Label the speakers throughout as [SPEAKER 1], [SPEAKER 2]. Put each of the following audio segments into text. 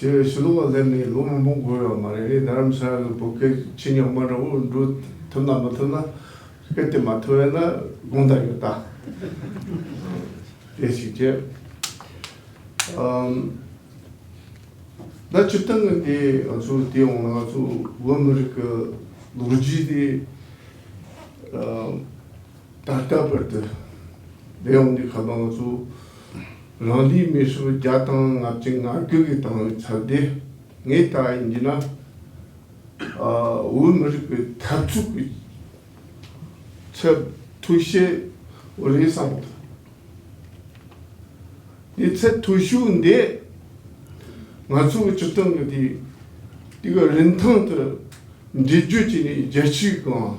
[SPEAKER 1] ཞེས་ཞུ་ལུགས་ལ་སླེབས་ནས་ལོ་མང་པོ་འགོར་ཡོད་མ་རེད་རྡ་རམ་ས་ལར་བོད་སྐད་ཆེ་ཉག་མ་འདྲ་བོ་འབྲུ་ཐུབ་ན་མ་ཐུབ་ན་སྐད་དེ་མ་ཐུབ་ཡོད་ན་དགོངས་དག་ཡོད་ད། དེ་ཞིག་བྱས། ད་སྤྱིར་བཏང་གི་དེ་ང་ཚོ་བལྟས་ཡོང་ན་ང་ཚོ་བོད་མི་རིགས་ཀྱི་ལོ་རྒྱུས་དེ། ད་ལྟ་བར་དུ་རྒྱལ་ཡོངས་ཀྱི་ཁ་གདངས་སུ་རང་རྒྱལ་མི་སོ་བརྒྱ་དང་ལྔ་བཅུ་ང་དགུ་གིས་བཏང་བའི་ཚབ་དེ་ངས་ད་ཡིན་གྱི་ན་འོས་མི་རིགས་པའི་འཐབ་འཁྲུག་གི་ཚབ་ཐུ་ཤེས་བོ་རེད་བསམ་ཐུབ། དེ་ཚད་ཐུ་ཤུགས་འདི་ང་ཚོ་གི་སྤྱི་ཚོགས་ཀྱི་དེ་གི་རིན་ཐང་དུ་འགྲེལ་བརྗོད་བྱས་ནས་རྒྱལ་སྤྱིའི་སྒང་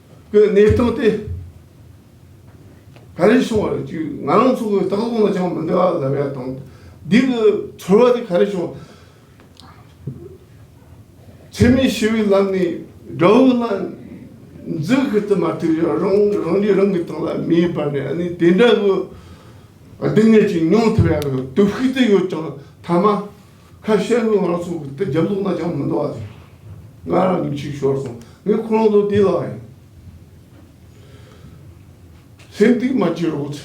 [SPEAKER 1] པའི་གནས་སྟངས་དེ་ག་རེ་བྱུང་བ་རེད་ཅེས་ང་རང་ཚོ་གོ་ད་གོང་ལ་ཅང་མི་འདྲ་བ་ལབ་ཡ་དང། འདི་གི་ཚོར་བ་དེ་ག་རེ་བྱུང། འཚེ་མེད་ཞི་བའི་ལམ་ནས་དགྲ་བོའི་ལ་འཛུལ་ཁུལ་དུ་མ་ཐུག་ཡང་རང་རང་གིས་རང་གི་ཏང་ལ་མེ་ཡིས་སྦར་ནས་ཨ་ནི་དེ་འདྲ་གི་སྡུག་བསྔལ་ཅིག་མྱོང་ཐུབ་ཡ་རེད་དུ་ཤུགས་ཏུ་ཡོད་ཀྱང་མཐའ་མ། ཁ་ཤས་ཀྱིས་ང་རང་ཚོ་དེ་རྒྱབ་ལོག་ན་ཅང་མི་འདུག་ཨ་ཟེར། ང་རང་ཉིན་གཅིག་ཤོར་སོང། ངས་ཁོ་རང་ཚོ་དེ་ལ་ཡང་སེམས་གཏིང་མ་སྐྱེ་རོགས་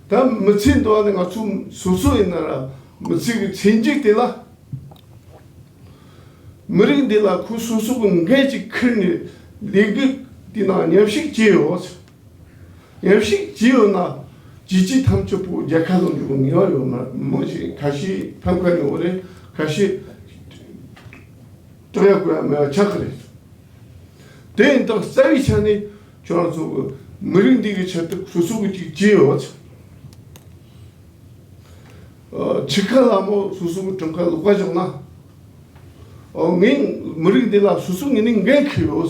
[SPEAKER 1] ཟེར། ད་མི་ཚེ་འདི་བ་ནི་ང་ཚོ་སོ་སོ་ཡིན་ན་ར་མི་ཚེ་གི་ཚེ་མཇུག་དེ་ལ། མི་རིགས་འདི་ལ་ཁོ་སོ་སོ་གི་འགན་ཅིག་འཁུར་ནས་ལས་འགུལ་དེ་ནང་ཉམས་ཞིབ་བྱེད་རོགས་ཟེར། ཉམས་ཤིག་ཅི་ཡོད་ན་ཇི་ཅི་ཐམས་ཅད་པོ་རྒྱལ་ཁ་ལོ་འཇུག་ངེས་བ་ཡོད་མར་མོ་ཞིག་ཁ་ཤི་ཐམ་ཁ་ཡོང་བ་རེད་ཁ་ཤི་སྟོན་ཡག་པོ་ཡང་མེད་པ་ཆགས་ཁ་རེད་དེ་ཡིན་སྟབས་རྩ་བའི་ཆ་ནས་ཁྱོད་རང་ཚོ་གི་མི་རིགས་འདི་གི་ཆེད་དུ་སོ་སོ་གི་ཅིག་ཅི་ཡོད་ཚ་ཆི་ཁ་ལ་མོ་སོ་སོ་གི་དྲུང་ཁ་ལོག་པ་བཞག་ན་ངའི་མི་རིགས་འདི་ལ་སོ་སོ་ངེས་ནས་འགན་ཁུར་ཡོད།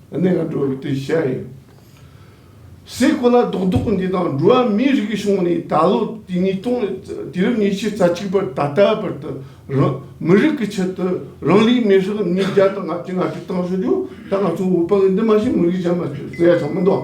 [SPEAKER 1] གནས་ལྔ་འགྲོ་བའི་དུས་བྱས་ཡིན། སའི་གོ་ལ་རྡོག་རྡོག་འདི་དང་འགྲོ་བ་མིའི་རིགས་བྱུང་ནས་ད་ལོ་དུས་ཉིས་སྟོང་དུས་རབས་ཉི་ཤུ་རྩ་གཅིག་པར་ད་ལྟའི་བར་དུ་རང་མི་རིགས་ཀྱི་ཆེད་དུ་རང་ལུས་མེར་བསྲེགས་གནས་བརྒྱ་དང་ལྔ་བཅུ་ལྔ་བཅུ་བཏང་ཟེར་རྒྱུ་ད་ང་ཚོ་འུར་པ་གི་འདི་མ་བྱེད་མི་རིགས་གཞན་མ་བྱེད་ཟེར་ཡ་ཆགས་མི་འདུག།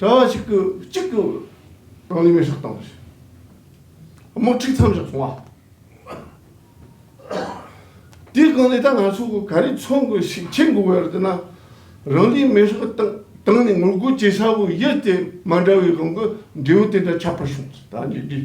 [SPEAKER 1] གྲྭ་བ་གཅིག་གིས་གཅིག་གི་རང་ལུས་མེར་བསྲེགས་བཏང་བ། དམག་འཁྲུག་མཚམས་བཞག་སོང་བ། དེའི་སྒང་ལས་ད་ང་ཚོ་གི་ག་རེ་འཚོལ་དགོས་ཞིག་བྱེད་དགོས་བར་དུ་ན་རང་ལུས་མེར་བསྲེགས་བཏང་ནས་ངོ་རྒོལ་བྱེད་ས་བོ་ཡུལ་དེ་མ་འདྲ་བའི་སྒང་གི་འབྲས་བུ་དེ་འདྲ་ཆགས་པར་བྱུང་ད་ནི་དུས་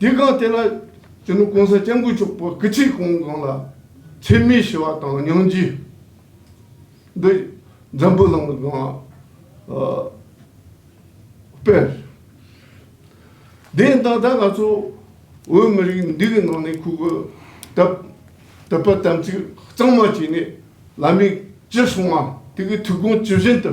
[SPEAKER 1] དེ་གང་དེ་ལ་ཅི་ནུས་གོང་ས་སྐྱབས་མགོན་མཆོག་པོ་སྐུ་ཚེ་གང་གང་ལ་འཚེ་མེད་ཞི་བ་དང་སྙིང་རྗེ་འདི་འཛམ་བུ་གླིང་ལ་གང་སྤེལ། དེས་ད་ལྟ་ང་ཚོ་བོད་མི་རིགས་འདི་གི་ནང་ནས་ཁུག་དབབ་དད་པ་དམ་ཚིག་གཙང་མ་བྱས་ནས་ལམ་ཡིག་ཅི་གསུང་བ་དེ་གི་ཐུགས་དགོངས་ཇི་བཞིན་དུ།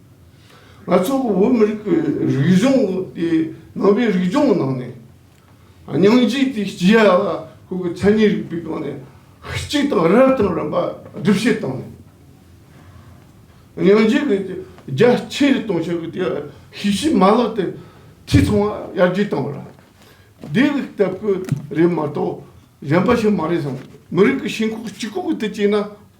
[SPEAKER 1] ང་ཚོ་བོད་མི་རིགས་ཀྱི་རིག་གཞུང་དེ་ནང་པའི་རིག་གཞུང་ནང་ནས་སྙིང་རྗེ་དེ་སྐྱེ་ཡག་ལ་ཁོང་གི་མཚན་ཉིད་རིག་པའི་སྒང་ནས་གཅིག་དང་རབ་དང་རིམ་པ་སྒྲུབ་བྱེད་བཏང་ནས་སྙིང་རྗེ་གི་རྒྱ་ཆེ་རུ་གཏོང་ཕྱོགས་ཀྱི་ཤེས་བྱའི་མ་ལག་དེ་འཐུས་ཚང་བ་ཡར་རྒྱས་བཏང་བ་རེད། དེ་ལ་སྟབས་ཀྱི་རེད་མ་གཏོགས་གཞན་པ་ཞིག་མ་རེད་བསམ། མི་རིགས་ཀྱི་ཞེན་ཁོག་སྤྱི་ཁོག་གི་ཐད་བྱས་ན།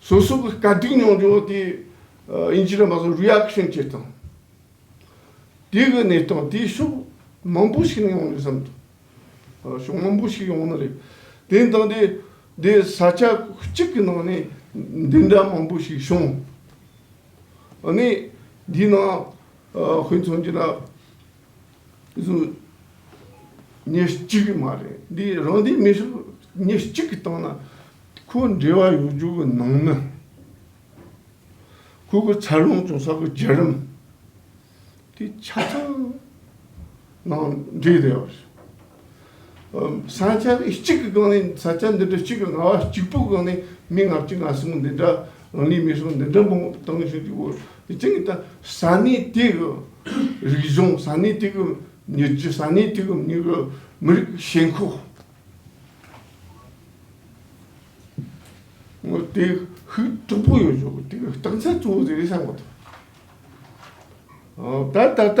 [SPEAKER 1] སོ་སོ་གི་བཀའ་དྲིན་མྱོང་བྱུང་དེ་ཡིན་ཕྱིན་རེ་མ་ཟད Reaction བྱེད་སྟངས་དེ་གི་གནས་སྟངས་དེ་ཕྱོགས་མང་པོ་ཞིག་ནས་ཡོང་རེད་བསམ་འདུག་ཕྱོགས་མང་པོ་ཞིག་ཡོང་ནི་རེད། དེ་ནི་དང་དེ་འདི་ས་ཆ་གཅིག་གི་ནང་ནས་འདི་འདྲ་མང་པོ་ཞིག་བྱུང། ཨ་ནི་འདིའི་ནང་ཧུན་མཚོན་གྱི་ན། དེ་ཚོ་ཉིན་གཅིག་གི་མ་རེད་འདི་རང་སྡེའི་མི་ཚོ་ཉིན་གཅིག་གི་སྟངས་ན་ཁོ་འབྲེལ་བ་ཡོང་རྒྱུ་གི་ནང་ན་ཁོ་གི་འཚར་ལོངས་བྱུང་ས་གི་རྒྱ་རིམ་དེ་ཆ་ཚང་ནང་འབྲེལ་བསྡད་པ་རེད། ས་ཆ་ནི་གཅིག་གི་སྒང་ནས་ས་ཆ་འདི་འདྲ་གཅིག་གི་ང་བ་གཅིག་པུའི་སྒང་ནས་མི་ང་གཅིག་ང་གསུམ་འདི་འདྲ་རང་ནུས་མི་སོང་འདི་འདྲ་མང་པོ་བཏང་ཞོར་དུ་འོ་ཅང་གི་ད་ས་གནས་དེ་གི་རིག་གཞུང་ས་གནས་དེ་གི་མྱུར་བྱེད་ས་གནས་དེ་གི་མྱུར་བའི་མི་རིགས་ཀྱི་ཞེན་ཁོག་ངོ་དེ་ཤུགས་དྲག་པོ་ཡོད་ཆོག་གི་དེ་གི་རྟགས་མཚན་གཙོ་བོ་དེ་རེད་བསམ་གོ་ཐོས་ད་ད་ལྟ་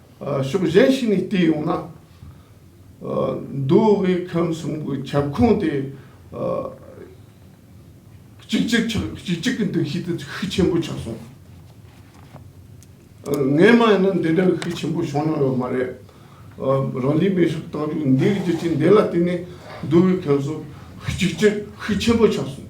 [SPEAKER 1] ཕྱོགས་གཞན་ཞིག་ནས་བལྟས་ཡོང་ན། མདོ་དབུས་ཁམས་གསུམ་གྱི་ཁྱབ་ཁོངས་དེ་གཅིག་གྱུར་གྱི་འདུ་ཤེས་དེ་ཤུགས་ཆེན་པོ་ཆགས་སོང། ངའི་མ་ཡིན་ན་འདི་འདྲ་བའི་ཤུགས་ཆེན་པོ་བྱུང་མྱོང་ཡོད་མ་རེད། རང་རྒྱལ་མི་རིགས་དང་ལུགས་འདིའི་རྒྱལ་སྤྱི་འདི་ལ་བརྟེན་ནས་མདོ་དབུས་ཁམས་གསུམ་གཅིག་གྱུར་ཤུགས་ཆེན་པོ་ཆགས་སོང།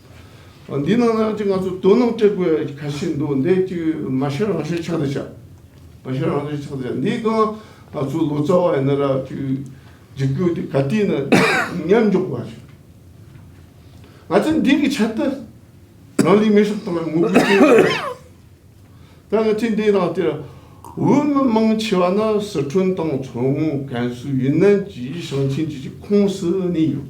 [SPEAKER 1] འདི་ནང་ནང་གཅིག་ང་ཚོ་དོན་དངོས་སྤྲད་དགོས་ག་ཤེད་འདུག་འདི་གཅིག་མ་ཤོད་རང་ཤོད་ཆགས་དེ་ཆགས། མ་ཤོད་རང་ཤོད་ཆགས་དེ་ཆགས་འདི་གང་ང་ཚོ་ལོ་ཙཱ་བ་ཡིན་ན་ར་ཅིག་འཇིགས་སྐུལ་དེ་ག་དུས་ན་ཉམས་འཇོག་པ་ཞིག་ང་ཚོ་འདི་གི་ཆེད་དུ་རང་ལུས་མེ་སྲེག་དང་ངུ་སྐུལ་བྱེད་ཡོད་རེད། ད་ང་ཚོས་འདི་རང་དེར་འོས་མི་མང་ཆེ་བ་ནི་སི་ཁྲོན་དང་མཚོ་སྔོན་ཀན་སུའུ་ཡུན་ནན་གྱི་ཞིང་ཆེན་གྱི་ཁོངས་སུ་གནས་ཡོད།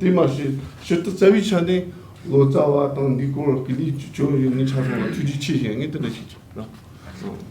[SPEAKER 1] དེ་མ་ཟད་ཕྱིར་དུ་རྩ་བའི་ཆ་ནས་ལོ་ཙཱ་བ་དང་འདི་སྐོར་གྱི་ནི་ཅོ་ཡོད་ནི་ཆ་ཚང་ལ་ཐུགས་རྗེ་ཆེ་ཞེས་ངས་དེ་འདྲ་ཞིག་བྱས་ན།